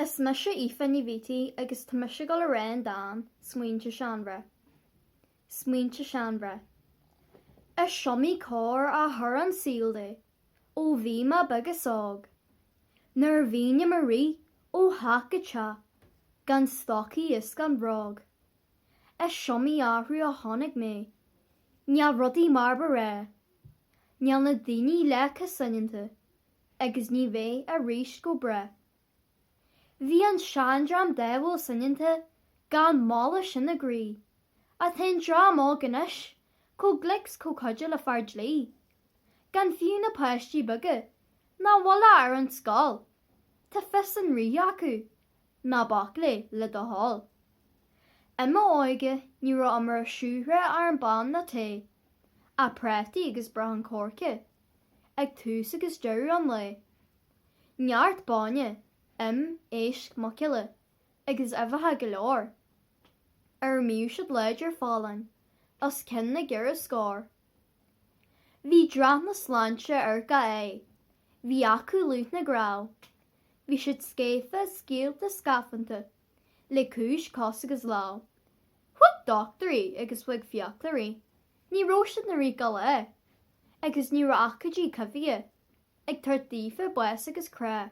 Is mise Aoife Ní Bheathaí agus tá mise ag dul a rá an dán 'Smaointe Seanmhná'. Smaointe Seanmhná. Is iomaí cor a chuir an saol de ó bhí mé beag is óg. Nuair a bhínn i mo rith ó theach go teach gan stocaí is gan bhróg. Is iomaí athrú a chonaic mé, níl rudaí mar ba ghnách. Níl na daoine leath chomh soineanta, agus ní bheidh aríst go brách. Bhí an seandream dáimhiúil soineanta gan mailís ina gcroí, ach tá an dream óg anois chomh glic 's chomh cuidiúil le fear dlí, gan fiú na páistí beaga nach bhfuil i bhfad ar an scoil, tá fios an rí acu. Ná bac léi, le do thoil. I m'óige ní raibh iomrá ar shiúcra, arán bán ná tae, ach prátaí agus brachán coirce, ag tús agus deireadh an lae. Neart bainne, im, éisc, muiceola, agus uibheacha go leor. Ar a mbíodh siad láidir folláin, os cionn na gceithre scór. Bhí dreach na sláinte ar gach aghaidh. Bhí acu lúth na gcnámh. Bhí siad scéafa, scaoilte, scafánta, le cúis cos agus lámh. Chuig dochtúirí agus chuig fiaclóirí. Ní raibh siad ina rith gach lá. Agus ní raibh aicídí coimhthíocha. Ag tabhairt daofa bás agus crá.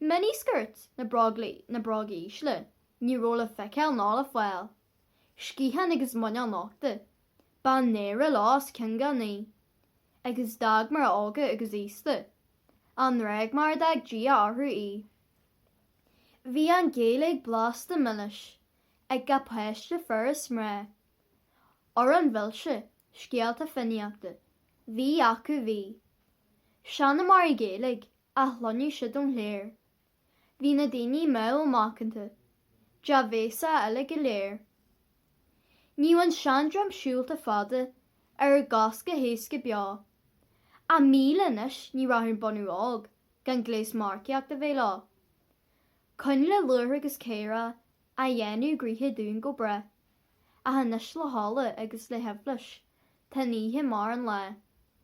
Miniskirt, ná bróga ísle, ní raibh le feiceáil ná le fáil, sciatháin agus muineál nochta, ba náire leo os cionn gach ní, agus d'fhág mná óga agus aosta, a ngruaig mar a d'fhág Dia orthu í. Bhí an Ghaeilge blasta milis, ag gach páiste, fir is mná. Amhráin mhilse, scéalta fiannaíochta. Bhí acu bhí. Seanmóirí Gaeilge. A chluineadh siad ón chléir. Bhí na daoine mánla macanta. Dea-bhéasach uilig go léir. Níodh an seandream siúlta fada ar a gcois go héasca beo. Ach míle anois ní rachadh an bunadh óg gan gléas marcaíocht a bheith leo. Coinnle luachra agus céarach a dhéanadh gnoithe dúinn go breá. Ach anois le hola agus le haibhléis tá an oíche mar an lá.